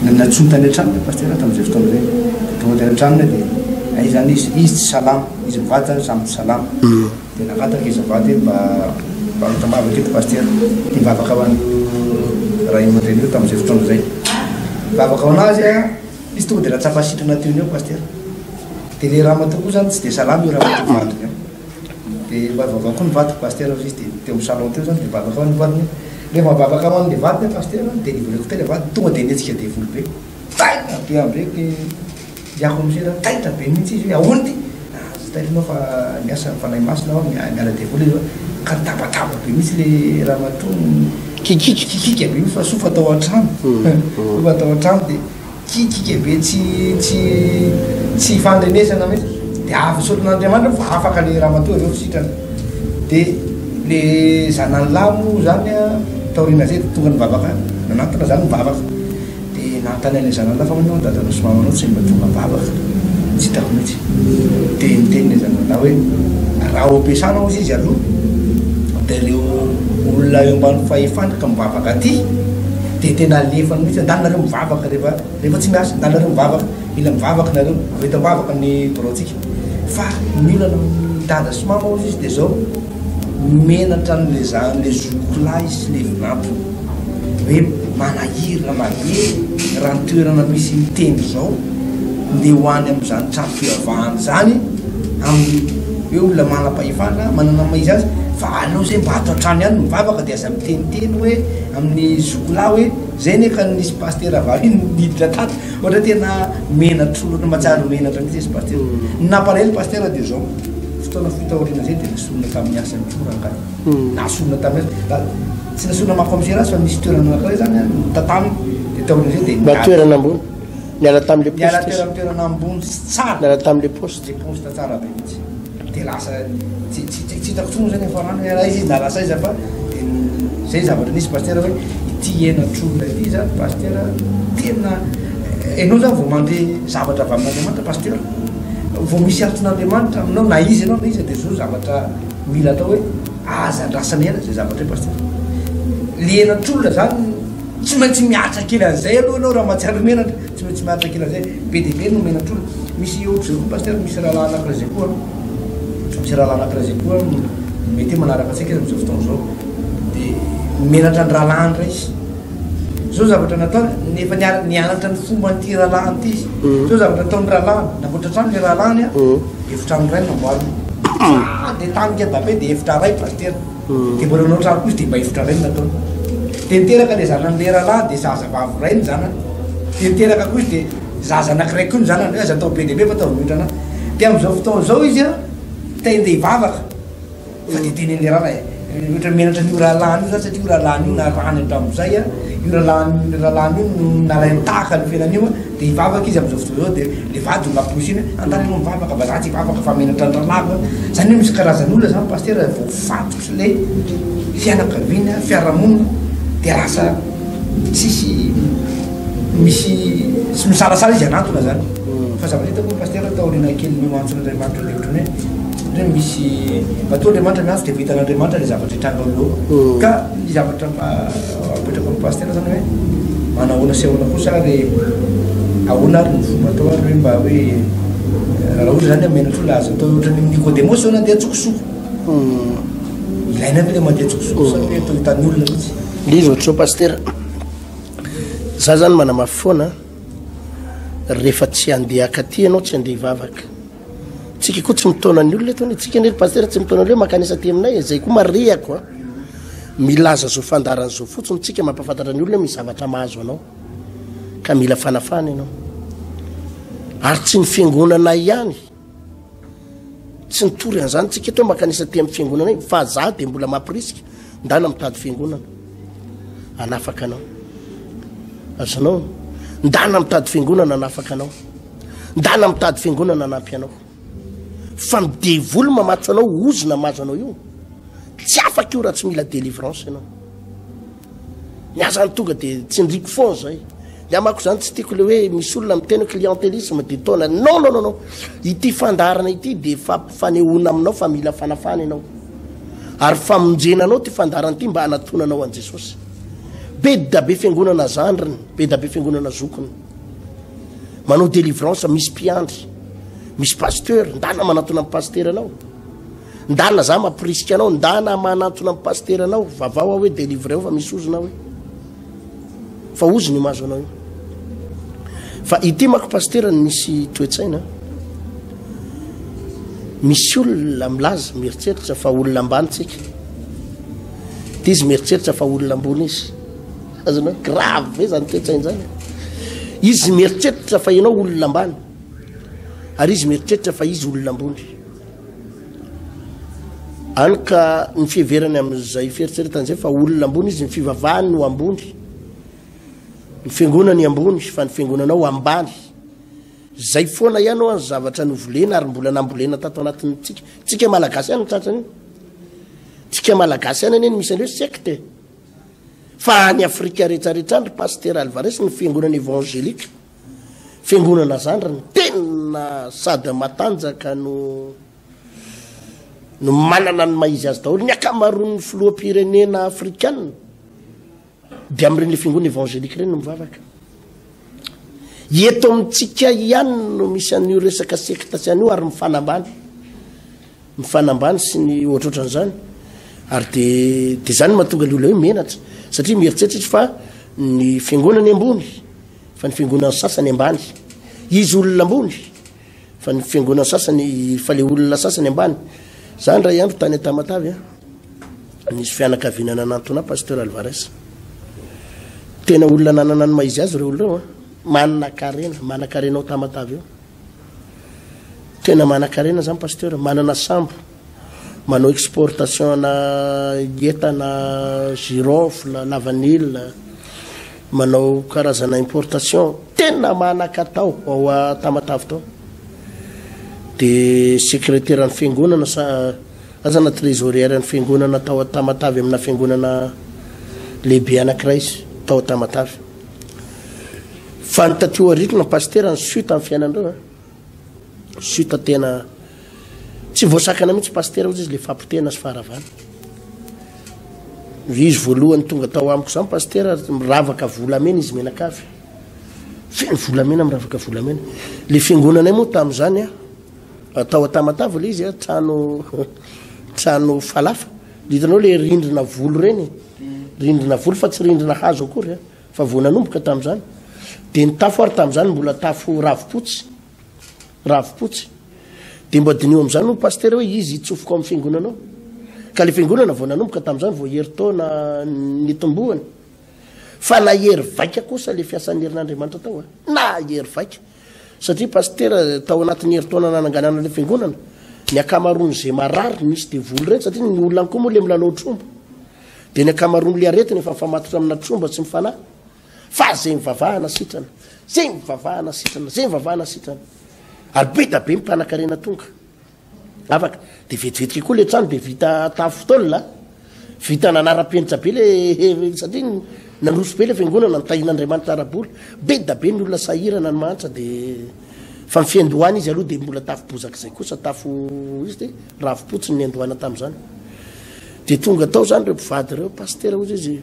Nantsoiny tany an-tranony ny pasitera tamin'izay fotoana izay. Tonga tany an-tranony aho dia, hay izany izy, izy tsy salama, izy mivady izany samy tsy salama. Dia nangataka izy mivady hoe mba mba mitambavaka eto pasitera. Dia nivavaka ho an'io ray aman-dreny io tamin'izay fotoana izay. Nivavaka ho an'azy aho, izy tonga dia nahatsapa sitrana teo ny eo pasitera. Dia ilay ramatoa koa izany tsy dia salama io ramatoa vadiny io. Dia mba vaovao koa ny vadiko Pasitera izy dia teo amin'ny salon teo zany dia mivavaka ho an'ny vadiny hoe rehefa mivavaka ho an'ilay vadiny hoe Pasitera délivreko teo ilay vadiny tonga dia nihetsika devoly be taitra be ambe ny i Akonosera taitra be mihitsy izy hoe ahoana ity aza taitra ianao fa miasa ny Fanahy Masina ao miala devoly izy hoe ka nitabataba be mihitsy ilay ramatoa nikikika be mihitsy fa soa fa tao an-trano soa fa tao an-trano dia Tsy tika be tsy tsy tsy ifandrenesana mihitsy dia avy soron'Andriamanitra fa afaka le ramatoa avy eo sitrana dia le zanany lahy moa zany a taoriana zay dia tonga nivavaka nanatona zany nivavaka dia nanontany an'le zanany lahy fa ahoana hono dadanao sy mamanao tsy mba tonga mivavaka tsy hitako mihitsy dia niteny le zanany lahy hoe raha ho ampiasana ozy izy aloha dia reo olona eo ambany fahefana ka mivavaka aty Dia tena alefa mihitsy, ndalo nareo mivavaka rehefa rehefa tsy miasa, ndalo nareo mivavaka, mila mivavaka nareo, avy eto ambavaka ny biraontsika. Fa ny olana amin'i dada sy mama hozy izy dia izao, menatra an'ilay za an'ilay zokiko lahy izy sy ilay vinantony, hoe manahiry na mahery raha ny toerana misy ny tendro izao, ndeha ho any amin'izany trano fivavahana izany amin'ny hoe olona manam-pahefana, manana ny maha izy azy, fa aleo izay mba ato an-trano ihany no mivavaka dia aza miteniteny hoe. Amin'ny zokolahy hoe zay anie ka nisy pasitera vahiny niditra tato ohatra tena menatra ohatra matsiaro menatra mihitsy izy pasitera ny nampalahelo pasitera dia zao fotoana fohy taoriana zay dia nasorina tamin'ny asany koa rangahy hmm. nasorina tamin'ny asany tsy nasorina maha commissaire azy fa nisy toerana anankiray zany tataminy dia taoriana zay dia toerana ambony niala tamin'le poste niala toerana ambony sy tsara niala tamin'le poste Tsy poste tsara be mihitsy dia lasa tsy tsy tsy hitako intsony moa zany efa rano ialahy izy na lasa aiza fa dia zay zavatra nisy pasitera hoe ity henatro iray ity zany pasitera tena ianao zany vao mandeha zavatra avy amin'Andriamanitra pasitera vao misy anton'Andriamanitra aminao na iza ianao na iza dia zao zavatra mila atao hoe aza andrasana ela zay zavatra hoe pasitera le henatr'olona zany tsy maintsy miaritra kely an'izay aloha ianao raha mahatsiaro menatra Tsy maintsy miaritra kila zay. Be dia be no omena trola. Misy ohatra izay koa Pasteur, misy rahalahy anankiray izay koa, misy rahalahy anankiray izay koa mety hoe manaraka antsika amin'izao fotoana izao. Dia menatra ny rahalahiny iray izy. Izao zavatra nataony, efa niara- nianatra ny fomba an'ity rahalahiny ity izy. Izao zavatra nataon'ny rahalahiny, namboatra trano ilay rahalahiny an, efitrano iray no namboariny. Dia tany Québape dia efitra iray Pasteur. Dia mbola nanao trano koa izy dia mba hivotra indray no nataony. Dia niteraka ilay zanany leralahy dia zazavavy iray ny zanany. Dia niteraka koa izy dia zaza anankiray koa ny zanany, hoe aza atao be dia be fa ataovy miotrana. Dia amin'izao fotoana izao izy an, te handeha hivavaka fa dia tenenin'ny leralahy e, ohatra menatra an'io rahalahiny io zany satria io rahalahiny io narahany hatramin'izay an, io rahalahiny io rahalahiny io no nalainy tahaka ny fiainany io an, Dia hivavaka izy amin'izao fotoana izao, dia ilay vady no namporisihina hoe, Angaha aloha mivavaka fa za tsy hivavaka fa menatra an-dralala aho. Izany hoe misy karazan'olona izany Pasitera voafatotra ilay fianakaviana, fiarahamonina, dia lasa tsisy misy, tsy misalasala izy hanatona izany. Fa zavatra hitako moa Pasitera taoriana kelin'io antson'Andriamanitra dia ohatran'ny hoe, hoe misy, matoa Andriamanitra miantso dia efa hitan'Andriamanitra ilay zavatra hitranga eo ho eo. Ka ny zavatra mba. Mipetraka ao Base tena zany hoe manahoana sy ahoana kosa ary ahoana ary ny fomba atao ary hoe mba hoe raha ohatra zany amena fo laza atao ohatra ny Nikodemo sao nandeha an-tsokosoko. Ilaina ve le mandeha an-tsokosoko sao hoe atao hitan'ny olona mihitsy. Izy ohatra zao pasitera, za zany manamafy foana rehefa tsy handeha akaty ianao tsy handeha hivavaka. Tsika koa tsy mitaona ny olona eto anie. Tsika anie ry pasitera tsy mitaona ny olona makanisa aty aminay e. Zay koa marihako a. Milaza zo fandaharana zo fotsiny tsika mampafantatra ny olona misy zavatra mahazo anao. Ka mila fanafana ianao. Ary tsy ny fiangonana ihany. Tsy nitory an'izany tsika eto makanisa aty amin'ny fiangonana iny fa za dia mbola mampirisika ndana mitady fiangonana. Anafaka anao. Azonao? Ndana mitady fiangonana anafaka anao. Ndana mitady fiangonana hanampy anao fa ny devoly mamatso anao ozona mahazo anao io tsy afaka io raha tsy mila delivrance ianao ny aza ny tonga dia tsindriko foana zay ny amako zany tsy tiako le hoe misy olona miteny clientelisme dia taona non non non ity fandaharana ity dia fanehoana aminao fa mila fanafana ianao ary famonjena anao ty fandaharana ity mba hanatonanao an'i Jesosy be dabe fiangonana zandriny be dabe fiangonana zokiny Manao délivrance misy mpiandry. Misy pasteur, ndana manatona am pasteur anao. Ndana za mapirisika anao, ndana manatona am pasteur anao, vavao aho hoe délivreo fa misy ozona hoe. Fa ozona io mahazo anao io. Fa ity mako pasteur ny misy toetsaina. Misy olona milaza mieritreritra fa olona ambany tsika. Dizy mieritreritra fa olona ambony izy. Azony hoe grave ve zany toe-tsaina zany e? Izy mieritreritra fa ianao olona ambany ary izy mieritreritra fa izy olona ambony. Any ka ny fiheverany amin'izay fieritreretana izay fa olona ambony izy ny fivavahany no ambony. Ny fiangonany ambony fa ny fiangonanao ambany. Zay foana ihany ho an'ny zavatra novolena ary mbola nambolena tato anatin'ny tsika. Tsika malagasy ihany ny tratrany. Tsika malagasy ihany anie ny misy an'ireo secte. Fa any afrika rehetra rehetra any ry pasitera alvarez ny fiangonana evangelika fiangonana zany ry ny tena sady matanjaka no no manana ny mahizy azy daholo ny akamaroan ny filoha pirenena afrikana dia amreny le fiangonana evangelika reny no mivavaka Eto amintsika ihany no misy an'io resaka sekta sy an'io ary mifanambany. Mifanambany sy ny ohatrohatran'izany. Ary dia dia izany mahatonga ilay olona hoe menatra. Satria mieritreritra izy fa ny fiangonany ambony, fa ny fiangonan'ny sasany ambany. Izy olona ambony. Fa ny fiangonana sasany fa le olona sasany ambany. Za ndray andro tany Tamatave a. Nisy fianakaviana nanantona pasteur Alvarez. Tena olona nanana ny maizy azy ireo olona a. Manakarena, manakarena ao Tamatave eo. Tena manakarena zany pasteur, manana sambo. Manao exportation-na entana girofle, lavanila, manao karazana importation tena manan-katao ao Tamatave tao. Dia sekreteran'ny fiangonana sa aza na trésorière-n'ny fiangonana tao Tamatave amina fiangonana lehibe anankiray izy tao Tamatave. Fa ny taty aoriana pasitera ny suite amin'ny fiainanareo a! Chute tena tsy voasakana mihitsy pasitera ozy izy le fapotehana sy faharavana. Izy voalohany tonga tao amiko zany pasitera miravaka volamena izy menakavy. Feno volamena miravaka volamena. Le fiangonanay moa tamin'izany a tao Atamatavo le izy a trano trano falafa. Hitanao le rindrina volo reny. Rindrina volo fa tsy rindrina hazo akory a. Fa vao nanomboka tamin'izany, dia ny tafo ary tamin'izany mbola tafo ravipotsy, ravipotsy. Dia mba diniho amin'izany hoy pasitera hoe izy hitsofoka ao amin'ny fiangonana ao. Ka ilay fiangonana vao nanomboka tamin'izany vao herintaona nitomboany. Fa nahery vaika kosa ilay fiasan'ny herin'Andriamanitra tao. Eh. Nahery vaika. Satria pasitera tao anatin'ny herintaona nananganana ilay fiangonana, ny ankamaroan'izay marary nisy devoly ireny satria ny olona koa moa ilay milalao tromba. Dia ny ankamaroan'ilay aretina efa mifamatotra amina tromba tsy mifanahy. Fa izay mivavahana sitrana, izay mivavahana sitrana, izay mivavahana sitrana. Ary be da be ny mpanakarena tonga. Afaka. Dia vetivetika koa ilay trano dia vita tafo taolina. Vita nanaram-penitra be ilay satria nandroso be ilay fiangonana, nitahian'Andriamanitra ara-bola. Be da be ny olona sahirana ny mahantra dia fa ny fiandohana izy aloha dia mbola tafo bozaka izay kosa tafo izy dia ravi-potsiny ny niandohana tamin'izany. Dia tonga tao izany ireo mpivady ireo, Pasitera hoy izy,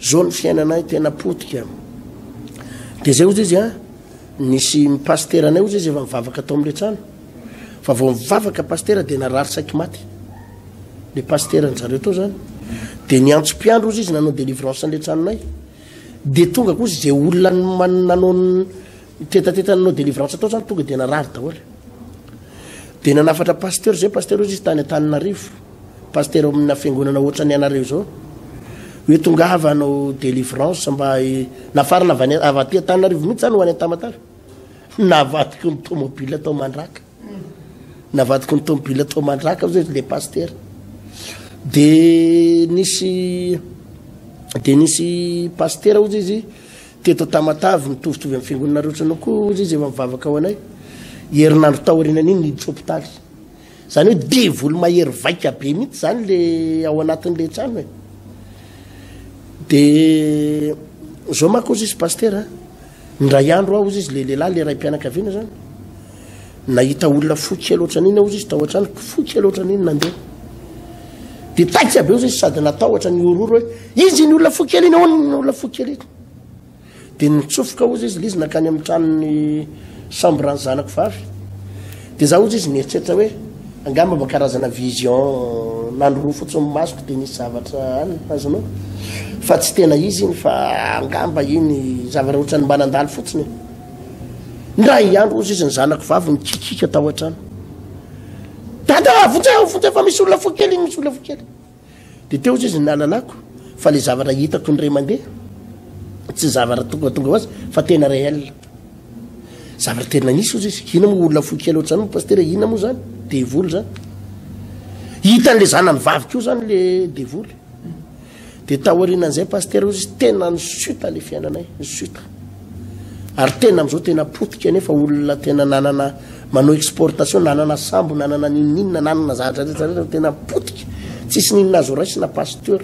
izao ny fiainanay tena potika. Dia izay hoy izy a, nisy pasitera anay hoy izy efa mivavaka tao amin'ilay trano. Fa vao mivavaka pasitera dia narary saiky maty. Ilay pasitera anjareo tao izany. Dia niantso mpiandro hoy izy nanao délivrance an'ilay tranonay. Dia tonga koa izay olona nanao Ny tetateta nanao délivrance tao zany tonga dia narary daholo. Dia nanafatra pasteur zay pasteur izy tany Antananarivo. Pasteur amina fiangonana ohatra ny anareo zao. Hoe tonga avy hanao délivrance mba nafarana avy avy aty Antananarivo mihitsy zany ho any Tamatave. Navadiko ny tomobile tao Mandraka. Navadiko ny tomobile tao Mandraka zay le pasteur. Dia nisy dia nisy pasteur ozy izy Teto Tamatave, mitovitovy amin'ny Fiangonana rehetra anao koa hoy izy efa mivavaka ho anay. Herinandro taorianan'iny niditra hopitaly. Izany hoe devoly mahery vaika be mihitsy izany ilay ao anatin'ilay trano e. Dia izao manko hoy izy Pasitera, indray andro aho hoy izy ilay lehilahy, ilay raim-pianakaviana izany. Nahita olona fo kely ohatran'iny aho ozy izy tao an-tranoko, fo kely ohatran'iny nandeha. Dia paika be ozy izy sady natahotra ny hororo hoe izy iny olona fo kely iny, ahoana iny olona fo kely iny. Dia nitsofoka ozy izy, izy nankany amin'ny tranon'ny sambran'ny zanako vavy. Dia za ozy izy nieritreritra hoe angamba mba karazana vision nandro roa fotsiny masoko dia nisy zavatra any, azonao? Fa tsy tena izy iny fa angamba iny zavatra ohatran'ny mba nandalo fotsiny. Indray andro hozy izy ny zanako vavy nikikiaka tao an-trano. Dada, vonjeo, vonjeo fa misy olona fo kely, misy olona fo kely. Dia teo hozy izy ny nalalako fa le zavatra hitako indray mandeha tsy zavatra tonga tonga ho azy fa tena réel. Zavatra tena nisy hozy izy. Ina moa olona fo kely ohatr'izany moa pasitera, ina moa zany? Devoly zany. Hitan'le zanany vavy koa zany le devoly. Dia taorianan'izay Pasitera hoy izy, tena nisuta ilay fiainanay, nisuta. Ary tena amin'izao tena potika anefa olona tena nanana manao exportation, nanana sambo, nanana n'inon'inona, nanana zavatra rehetra rehetra, tena potika. Tsisy n'inona azo raisina Pasteur.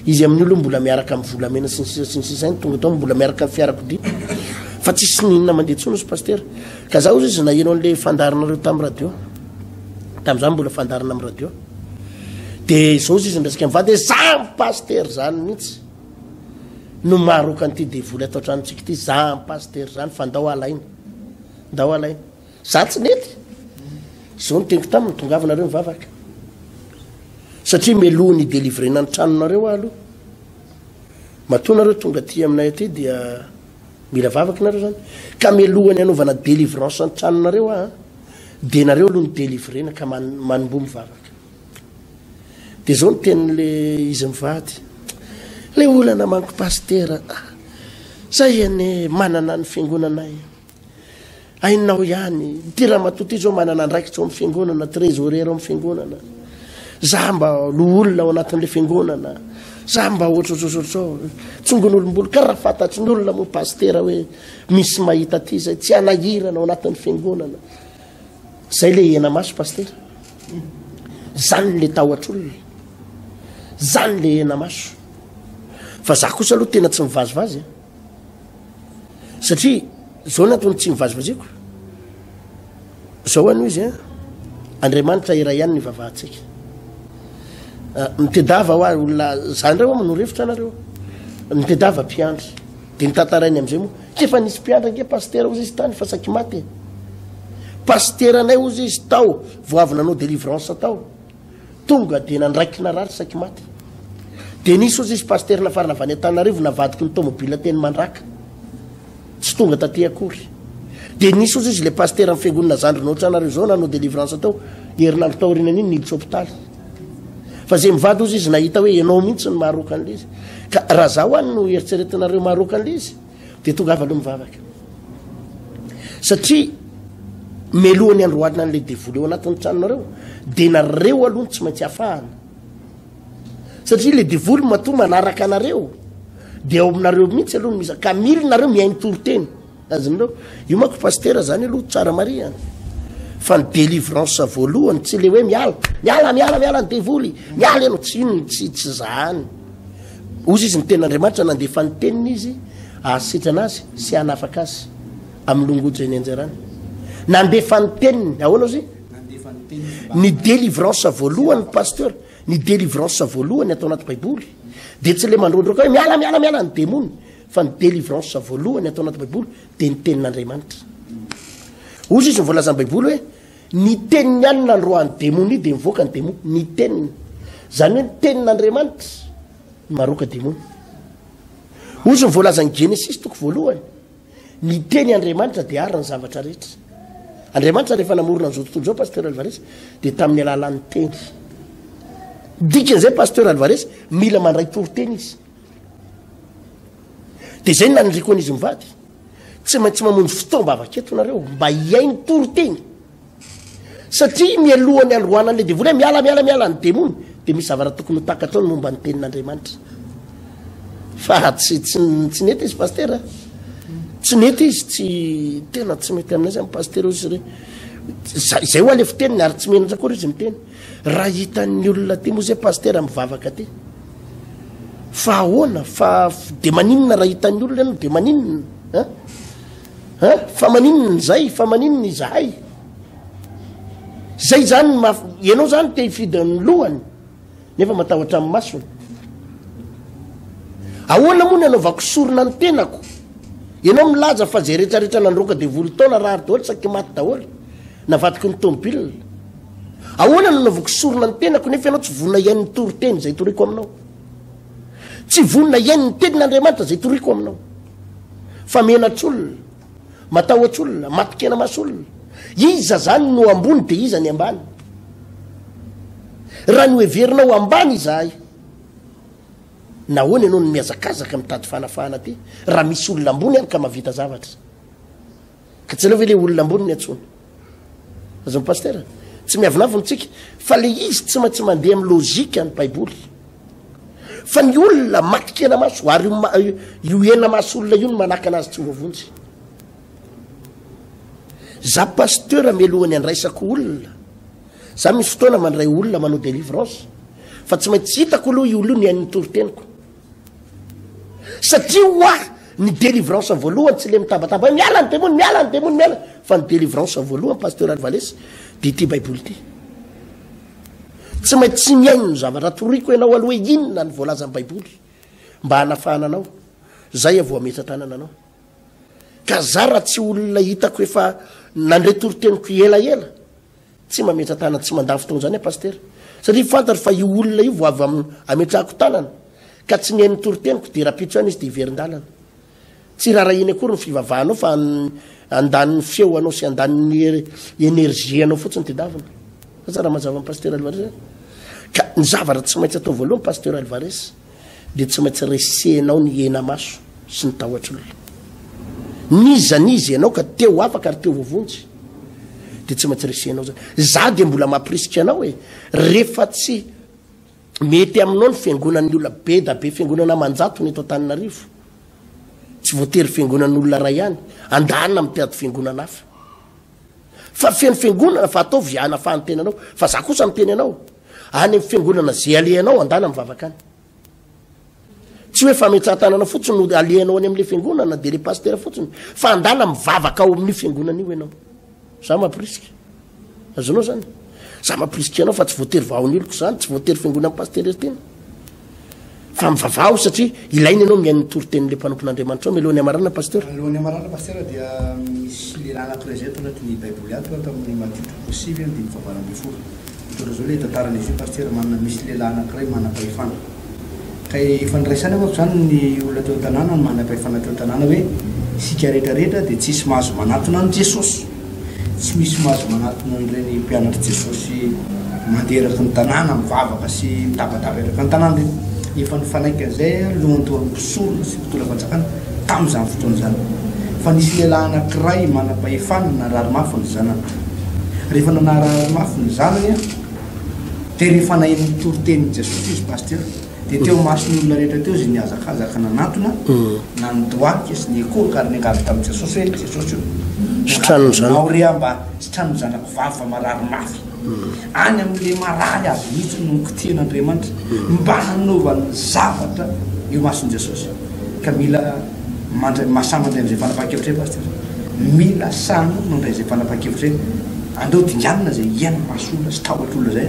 Izy amin'ny olony mbola miaraka amin'ny volamena sy ny sisa sy ny sisa ihany, tonga tao mbola miaraka amin'ny fiarakodia. Fa tsisy n'inona mandeha intsony hozy Pasitera. Ka za hozy izy naheno an'ilay fandaharanareo tamin'ny radio. Tamin'izaho mbola fandaharana amin'ny radio. dia izao izy miresaka amin'ny vadiny hoe zah ny pasitera izany mihitsy no maroka an'ity devoly ato an-tranontsika ity zah ny pasitera izany fa ndao alaina ndao alaina za tsy nety izao ny teniko taminy tongavinareo mivavaka satria meloha ny delivrena ny tranonareo aho aloha matoa nareo tonga aty aminay aty dia Mila vavaka nareo zany. Ka melohany anaovana delivrance antranonareo ah de nareo aloha ny delivrena ka man, manomboa mivavaka. De zao ny tenin'le izy mivady. Le olana manko pasitera. Ah, zay ane manana ny fiangonanay. Hainao ihany, ity ramatoa ity izao manana andraikitra ao amin'ny fiangonana, trésorière ao amin'ny fiangonana. Za mba loholona ao anatin'ilay fiangonana. Za mba ohatrohatrohatrao. Tsongon'olombolo ka raha fantatry ny olona moa pastera hoe misy mahita aty izay tsy hanahirana ao anatin'ny fiangonana. Zay le hena maso pastera. Zany le tahotr'olona. Zany le hena maso. Fa za kosa aloha tena tsy mivazivazy. Eh. satria zao natony tsy mivazivaziako zao anio izy a andriamanitra iray ihany ny vavahantsika ah, mitedava ho ary olona za ndray oa manorefitra anareo mitedava mpiandry de nitantarainy am'izay moa kefa nisy mpiandry ange pastera ozy izy tany fa saky maty e. pastera anay ozy izy tao voavy nanao delivrance tao Tonga dia nandraikina rary saiky maty. Dia nisy ozy izy pasitera nafarana avy any Antananarivo navadiky ny tômôbila teny Mandraka. Tsy tonga taty akory. Dia nisy ozy izy ilay pasitera amin'ny fiangonana zandry nohoatra anareo izao nanao délivrance tao herinandro taorianany iny niditra hôpitaly. Fa izay mivady ozy izy nahita hoe ianao mihitsy ny maharoaka an'ilay izy. Ka raha zaho any no eritreretinareo maharoaka an'ilay izy. Dia tongava aloha mivavaka. Satria melohan'ny andro alina an'ilay devoly eo anatin'ny tranonareo, dia nareo aloha tsy maintsy hafahana. Satria ilay devoly matoa manaraka anareo, dia ao aminareo mihitsy aloha misa ka mily nareo mihaino toriteny. Azonareo? Io manko pastera zany aloha tsara marihana. Fa ny délivrance voalohany tsy le hoe miala, miala, miala, miala ny devoly, miala ianao tsy ino tsy tsy zany. Hoy izy, Ny Tenin'Andriamanitra nandefa ny Teniny Izy hahasitrana azy sy hanafaka azy amin'ny longoja eny anjarany. Nandefa ny Teniny. Ahoana ozy? Ny délivrance voalohany, pasteur, ny délivrance voalohany atao anaty Baiboly, dia tsy le mandrondroka hoe miala, miala, miala ny demony, fa ny délivrance voalohany atao anaty Baiboly dia ny Tenin'Andriamanitra. Hoy izy, ny voalazan'ny Baiboly hoe, Ny tenin'ny alina androany demonia dia mivoaka ny demonia. Ny teniny. Izany hoe ny tenin'Andriamanitra no maroaka demonia. Ozy ny voalazan'ny Genesisy toko voalohany. Ny teny Andriamanitra dia ary ny zavatra rehetra. Andriamanitra rehefa namorona an'izao tontolo izao Pasteur Alvarez dia tamin'ny alalan'ny teny. Dikan'izay Pasteur Alvarez mila mandray toriteny izy. Dia izay no naniriako an'izy mivady. Tsy maintsy mamonjy fotoam-bavaka eto nareo mba hihaino toriteny. Satria mialoha ny androana an'ilay devoly hoe miala miala miala ny demony dia misy zavatra tokony ho takatro ny momba ny tenin'Andriamanitra. Fa tsy tsy tsy nety izy pastera. Tsy nety izy tsy tena tsy mety aminay zany pastera izy re. Izay ho alefo teniny ary tsy menatra koa izy miteny. Raha hitan'ny olona aty moa zay pasitera mivavaka aty fa ahoana fa de maninona raha hitan'ny olona ianao de maninona a fa maninona izay fa maninona izahay zay zany maf ianao zany te hifidin'ny lohany nefa matahotra amin'ny masony ahoana moa ny anaovako sorona ny tenako ianao milaza fa zay rehetrarehetra nandroaka devoly taona raha ary daholo saky maty daholo Navadiko ny tomobilina. Ahoana no anaovako sorona ny tenako nefa ianao tsy vonona hihaino ny toriteny izay toriako aminao? Tsy vonona hihaino ny tenin'Andriamanitra izay toriako aminao. Fa menatr'olona, matahotr'olona, matokenamas'olona. Iza zany no ambony dia iza ny ambany? Raha noheverinao ambany izahay, nahoana ianao no mihazakazaka mitady fanafahana aty raha misy olona ambony any ka mahavita zavatra? Ka tsy anao ve le olona ambony ny antsony? Azony pasteur, tsy miavonavona tsika fa le izy tsy maintsy mandeha amin'ny logique ny baiboly. Fa ny olona matikena maso ary io hena maso olona io no manakana azy tsy voavonjy. Za pasteur melohany andraisako olona. Za misy fotoana mandray olona manao délivrance fa tsy maintsy hitako aloha io olona io ny ain'ny toriteniko. Satria ho ahy ny délivrance voalohany tsy le mitabataba hoe miala ny demony, miala ny demony, miala, fa ny délivrance voalohany Pasteur Alvalesy de ity baiboly ity. Tsy maintsy tsy mihaino ny zavatra toriko ianao aloha hoe inona ny voalazan'ny baiboly mba hanafahana anao. Zay aho vao hametsa-tanana anao. Ka za raha tsy olona hitako efa nandre toriteniko elaela, Tsy mametra tanana tsy mandà fotoana izany aho Pasitera satria fantatro fa io olona io vao avy ametrahako tanana ka tsy mihaino ny toriteniko dia rapitso ihany izy dia hiverin-dalana. Tsy rarahiany akory ny fivavahanao fa andaniny feo anao sy andaniny energie anao fotsiny tedavina. Aza raha mazava ny Pasitera Alvarez a. Ka ny zavatra tsy maintsy atao voalohany Pasitera Alvarez. dia tsy maintsy resehinao ny henamaso sy ny tahotr'olona. N'iza n'iza ianao ka te ho afaka ary te ho voavonjy dia tsy maintsy resehinao zany. Za dia mbola mampirisika anao e, rehefa tsy mety aminao ny fiangonan'ny olona be da be fiangonana aman-jatony eto Antananarivo. Tsy voatery fiangonan'olona iray ihany, andanina mitady fiangonana hafa. Fa feno fiangonana fa ataovy hanafahany tenanao. Fa za kosa miteny anao, any amin'ny fiangonana izay alehanao andana mivavaka any tsy hoe fametsahan-tanana fotsiny no alehanao any amin'ilay fiangonana dia ilay pastera fotsiny fa andana mivavaka ao amin'io fiangonana io ianao za mampirisika azonao zany za mampirisika ianao fa tsy voatery vahon'oloko zany tsy voatery fiangonan'ny pastera tena fa mivavaha aho satria ilaina ianao mihaino ny toritenin'ilay mpanompon'Andriamanitrao mialoha ny hamarana pasteur mialoha ny hamarana pasteur dia misy lehilahy anankiray izay tao anatin'ny baiboly ato aho tamin'ny Matio toko sivy amby dimy fahavalo ambin'ny folo mitondra izao ilay tantaran'i Jésus pasteur manana misy lehilahy anankiray manam-pahefana kay efa niraisana manko izany ny olona teo an-tanàna ny manam-pahefana teo an-tanàna hoe isika rehetra rehetra dia tsisy mahazo manatona an'i Jesosy Tsy misy mahazo manatona an'ireny mpianatr'i Jesosy mandeha eraky ny tanàna, mivavaka sy mitabataba eraky ny tanàna ireny. Efa nifanaiky an'izay ny lohantoan'ny mpisorona sy mpitondram-panjakana tamin'izany fotoana izany, fa nisy lehilahy anankiray manam-pahefana narary mafy ny zanany. Rehefa nanarary mafy ny zanany, dia rehefa naheno ny toritenin'i Jesosy izy, Pasteur, Dia teo imason'ny olona rehetra teo izay nihazakazaka nanatona, na ny doaika sy ny ekoroka, ary niangavy tamin'i Jesosy hoe, Jesosy ô, Sitranon'ny zanako. Angavinao re aho mba sitranon'ny zanako vavy fa marary mafy. Any amin'ilay marary azy mihitsy no nikotrehan'Andriamanitra mba hanaovany zavatra eo imason'i Jesosy. Ka mila mandray, masahy mandray amin'izay fanapahan-kevitra izay, Pasitera. Mila sahy mandray izay fanapahan-kevitra izay. Andao dinganina izay iainan'ny mason'olona sy tahotr'olona izay.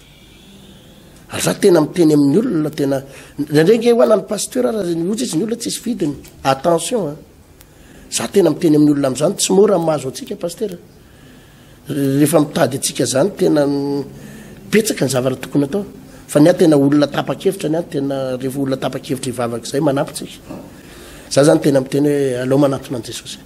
Ary za tena miteny amin'ny olona tena ndraindray nge hoana ny pasteur ara ny ozy izy ny olona tsisy vidiny attention a za tena miteny amin'ny olona amin'izany tsy mora mahazo antsika pasteur rehefa mitady antsika zany tena betsaka ny zavatra tokony atao fa ny ahy tena olona tapa-kevitra ny ahy tena rehefa olona tapa-kevitra hivavaka izay manampy tsika za zany tena miteny hoe alao manatona an'i jesosy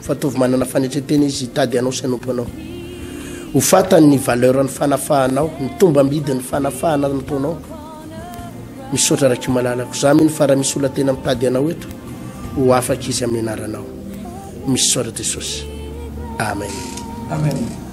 Fatovy manana fanetren-tena izy hitady anao sy hanompo anao. Ho fatany ny valeur ny fanafahanao, ny tombambidy ny fanafahana nataonao. Misaotra Rakiho malalako. Za mino fa raha misy olona tena mitady anao eto, ho afaka izy amin'ny anaranao. Misaotra Jesosy. Amen. Amen.